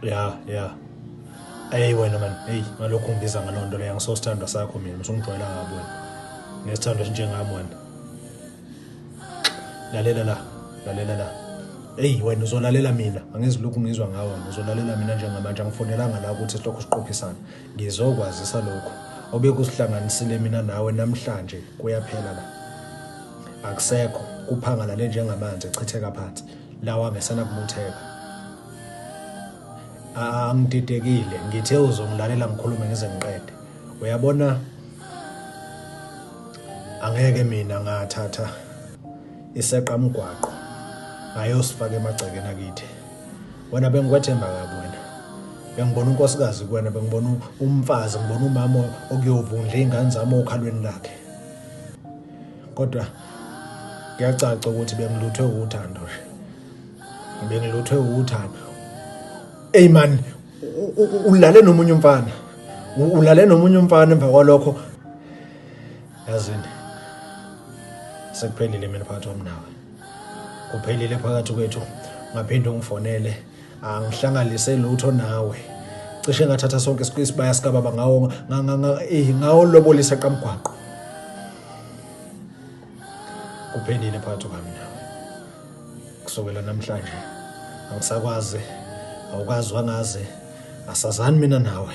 ya ya eyi wena mani eyi ngalokhu ungibiza ngaloo nto leyo ngisosithandwa sakho mina msungijwayela ngabo wena ngesithandwa esinjengami wena lalela la lalela la eyi wena uzolalela mina angizilokhu ngizwa ngawo uzolalela mina njengamanje angifonelanga la ukuthi sihlokho siqophisane Ngizokwazisa lokhu obekusihlanganisile mina nawe namhlanje kuyaphela la. Akusekho kuphangalale njengamanzi echitheka phansi lawa ngesana kubutheka. Angididekile ngithe uzongilalela ngikhulume ngize ngiqede. Uyabona angeke mina ngathatha iseqa mgwaqo ngayosifaka emagcekeni akithi. wena bengikwethemba kabi wena bengibona unkosikazi kuwena bengibona umfazi ngibona umama okuyovundla iy'ngane zami okhalweni lakhe kodwa kuyacaca ukuthi bengiluthwe uthando bengiluthwe uthando eyi mani ulale nomunye umfana ulale nomunye umfana emva kwalokho yazini sekuphelile mina phakathi wami nawe uphelile phakathi kwethu ngaphinde ungifonele angihlanganise lutho nawe cishe ngathatha sonke isibaya sikababa ngawo eh, ngawo lobolisa qamgwaqo kuphelile phakathi kwami nawe kusukela namhlanje angisakwazi awukazi wangazi asazani mina nawe